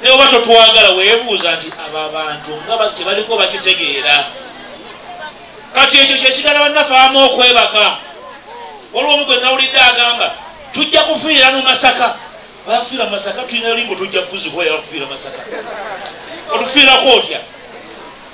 naye oba totwagala webuuza nti abo abantu nga kyebaliko bakitegeera kati ekyo kyesigala bannafaamu okwebaka waliwo omu gwe nawulidde agamba tujja kufiira mu masaka bafiira mu masaka tulina limbo tujja kuzibwa yakufiira masaka otufiirako otya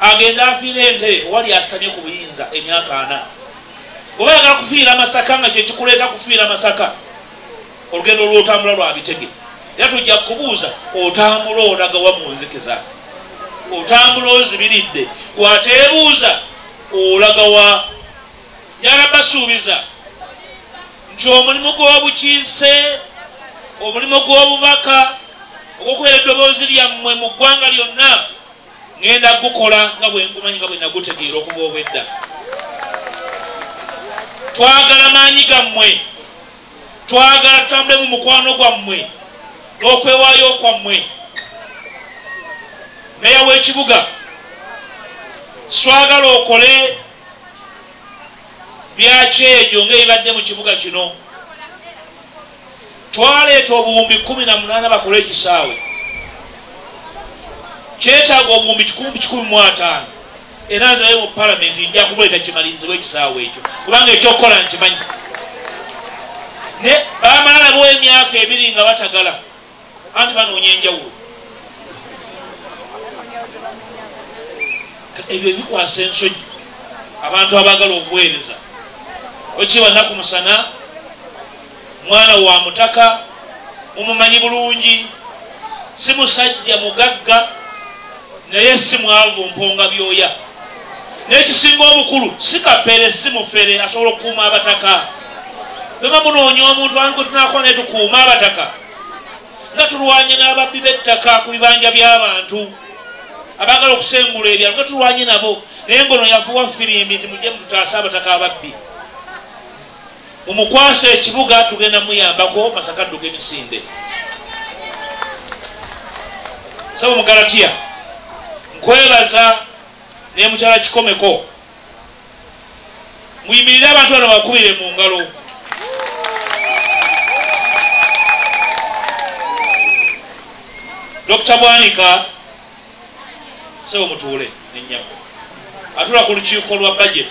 agenda afiira entebe wali asitamye ku buyinza emyaka ana oba yagala kufiira masaka nga kyekikuleeta kufiira masaka olugendo lwotambula lwa bitege era tujja kubuuza otambula olagawa mu nzikiza otambula ozibiridde gwateebuuza olagawa yala basuubiza nti omulimu gw'obukiise omulimu gw'obubaka ogwokubeera eddoboozi lyammwe mu ggwanga lyonna ŋŋenda gukola nga bwe ngumanyi nga bwe nagutegeera okuba obwedda twagala maanyi gammwe twagala tutambule mu mukwano gwammwe n'okwewaayo kwammwe meya w'ekibuga swagala okole byakyejo ngaebibadde mu kibuga kino twaleeta obuwumbi kumi na munaana bakole ekisaawe kyetaaga obuwumbi kikumbi kikumi mu ataano era nzaye mu palamenti nja kumuleeta kimalirizibwa ekisaawe ekyo kubanga ekyokukola nkimanyi ne bamala nabo emyaka ebiri nga batagala anti banoonya enjawulo ebyo bikwasa ensonyi abantu abaagala okuweereza okibannaku musana mwana wa mutaka mumumanyi bulungi si musajja mugagga naye si mwavu mponga byoya n'ekisinga obukulu si kapere si mufere asobola okukuuma abataka beba munoonya omuntu ani gwe tunakola naye tukuuma abataka nga tulwanye n'ababbi b'ettaka ku bibanja by'abantu abaagala okusengula ebyalo nga tulwanye nabo naye ngono yafuwa firimbi nti mujje mututaase abataka ababbi mumukwasa ekibuga tugenda muyambako masaka adduka emisinde saba mugalatiya nkwebaza nemukyala kikomeko muyimirire abantu bano bakubire mu ngalo dr bwanika sebo mutuule nenyabo atula ku lukiiko lwa budget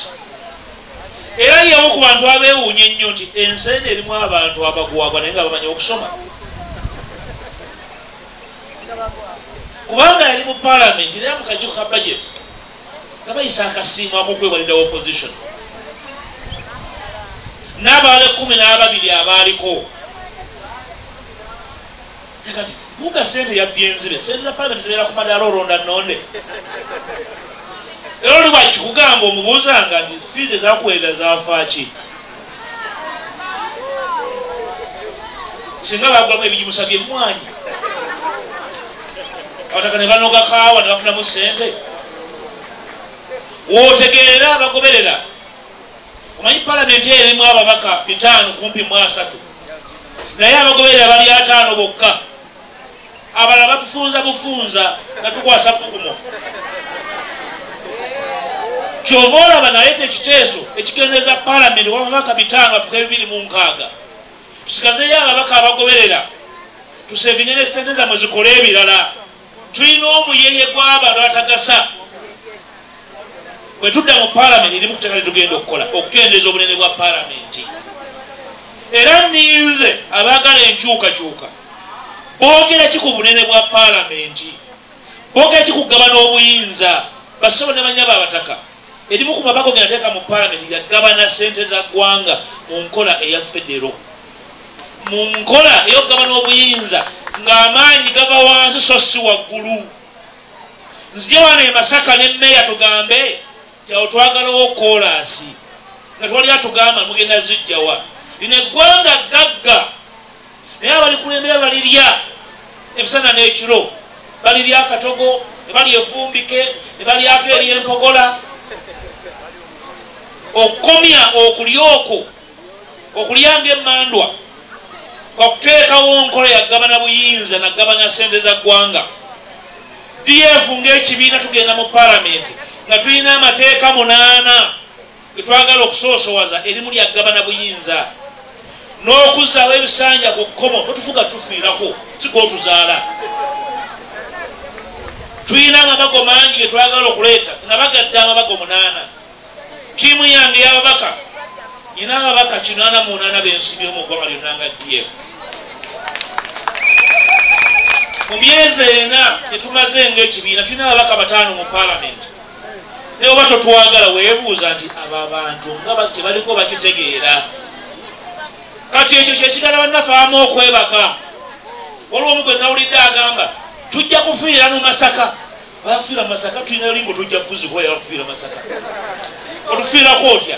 era yewo ku bantu abewuunya ennyo nti ensi eno erimu abantu abagwagwa naye nga bamanya okusoma kubanga yali mu palamenti era mukakiiko ka budget nga bayisa akasiimu akokwewalirawo opposition n'abaala ekkumi n'ababiri abaaliko kati guga sente yabbye enzibe sente za palamenti zibeera ku madaala olonda nonde era oli bwakikugamba omubuuzanga nti fiizi ezakuweerera zafaaki singa bagulamu ebigimusa byemmwanyi abataka ne banoga kaawa ne bafunamu sente wotegeera abagoberera omanyi palamenti eyo erimu ababaka bitaano kumpi mu asatu naye abagoberera bali ataano bokka abala batufunza bufunza natukwasa bugumo kyova olaba naleeta ekiteeso ekigendeza palamenti wababaka bitaano afuka ebibiri mu nkaaga tusigazeyo ababaka abagoberera tusevinye ne sente zamwe zikole ebirala tulina omuyeye gwaba lwatagasa bwetudda mu palamenti erimu kuteka lyetugenda okukola okukendeeza obunene bwa palamenti era ninze abaagala enkyukakyuka boogera ki ku bunene bwa palamenti boogera ki kugabana obuyinza bassebo ne banya babataka Erimu ku mabago ge nateeka mu palamenti yagabana ssente za ggwanga mu nkola eya federo, mu nkola ey'okugabana obuyinza ng'amaanyi gava wansi so si waggulu. Nzije wano e Masaka ne mmeeya tugambe nti awo twagalawo koolaasi nga twali atugamba mugenda zijjawa lino eggwanga ggagga. naye abalikulembera balirya emisana n'ekiro balirya akatogo ne bali efumbike ne balyako eri empogola okukomya okulya okwo okulya nga emandwa kwakuteekawo nkola yagabana buyinza nagabana sente za ggwanga df ngaekibiina tugenda mu palamenti nga tulina amateeka munaana Tetwagala okusoosowaza erimu lya gabana buyinza n'okuzzaawo ebisanja ku kkomo totufuga tufiirako sigwotuzaala tulina amabago mangi ge twagala okuleeta nabagadde amabago munaana tiimu yange yababaka nyina ababaka kinaana munaana bensibye mu ggwanga lyonna nga df mu myezi ena etumaze ngaekibiina tulina ababaka bataano mu palamenti naye oba totwagala webuuza nti abo abantu nga kyebaliko bakitegeera kati ekyo kyesigala bannafaamu okwebaka waliwo omu gwe nawulidde agamba tujja kufiira mu masaka bafiira masaka tulina limbo tujja kuzikwa yakufiira masaka otufiirako otya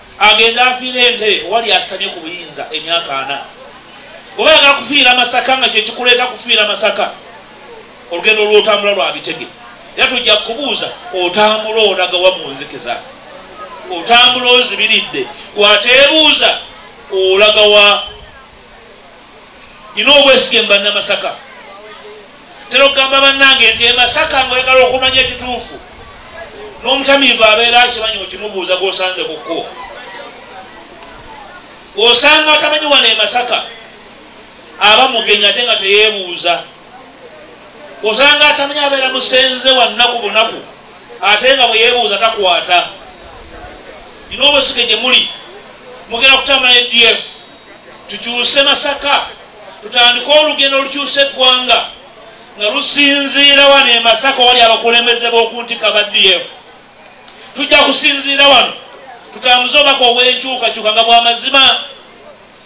agenda afiira entebe wali asitamye ku buyinza emyaka ana oba yagala kufiira masaka nga kyekikuleeta kufiira masaka olugendo lwotambula lwa bitege era tujja kubuuza otambula olagawa mu nzikiza otambula ozibiridde gwateebuuza olagawa nina obwesige mu bannamasaka tera okugamba bannange nti emasaka ngaoyagala okumanya ekituufu n'omutamiivu abeera akimanyi okimubuuza gwosanze ku kkubo osanga atamanyi wano emasaka aba mugenyi ate nga teyebuuza osanga atamanyi abeera musenze wannaku bunaku ate nga bweyebuuza takwata nina obwesige gye muli mugenda kutambula ne df tukyuse masaka tutandike olugendo olukyusa eggwanga nga lusinziira wano emasaka wali abakulembeze b'okuntika ba df tujja kusinziira wano tutambuze obubaka obw'enkyukakyuka nga bwamazima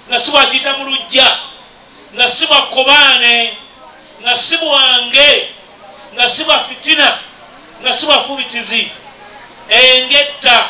nga si bwakiyita mu lujja nga si bwa kkobaane nga si bwange nga si bwa fitina nga si bwafubitizi engetta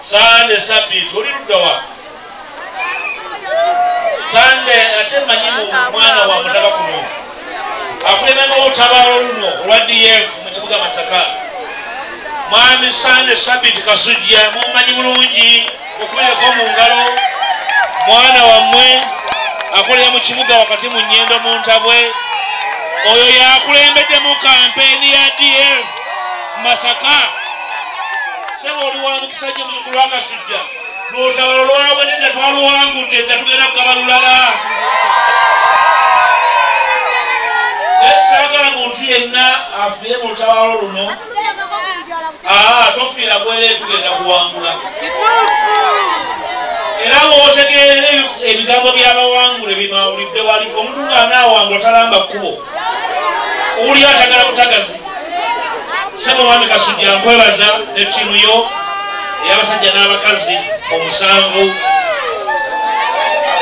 sande sabiti oli luddawa sande ate manyi mu mwana wa mutaba kuno akulemema olutabalo luno olwa df mu kibuga masaka mwami sande sabiti kasujja mumanyi bulungi okubireko mu ngalo mwana wammwe akolera mu kibuga wakati mu nyendo mu ntabwe oyo yakulembedde mu kampeni ya df masaka sebo oli wa mukisa nnyo muzukulu wa kasujja lwotabalo lwabwe nedda twaluwangudde nga tugenda kugaba lulala saagala muntu yenna afiire mu lutabalo luno ah, tofiira gwere tugenda kuwangula era bwotegeera ebigambo byabawangule bimawulidde wali omuntu nga anaawangula talamba kkubo owulira atagala butagazi sebo mwami kasujja nkwebaza ne tiimu yo eyabasajja n'abakazi omusanvu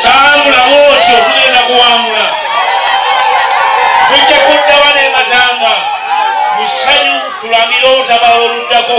tambula bwotyo tugenda kuwangula tujja kuddawa nematanga musanyu tulamire otabala oluddako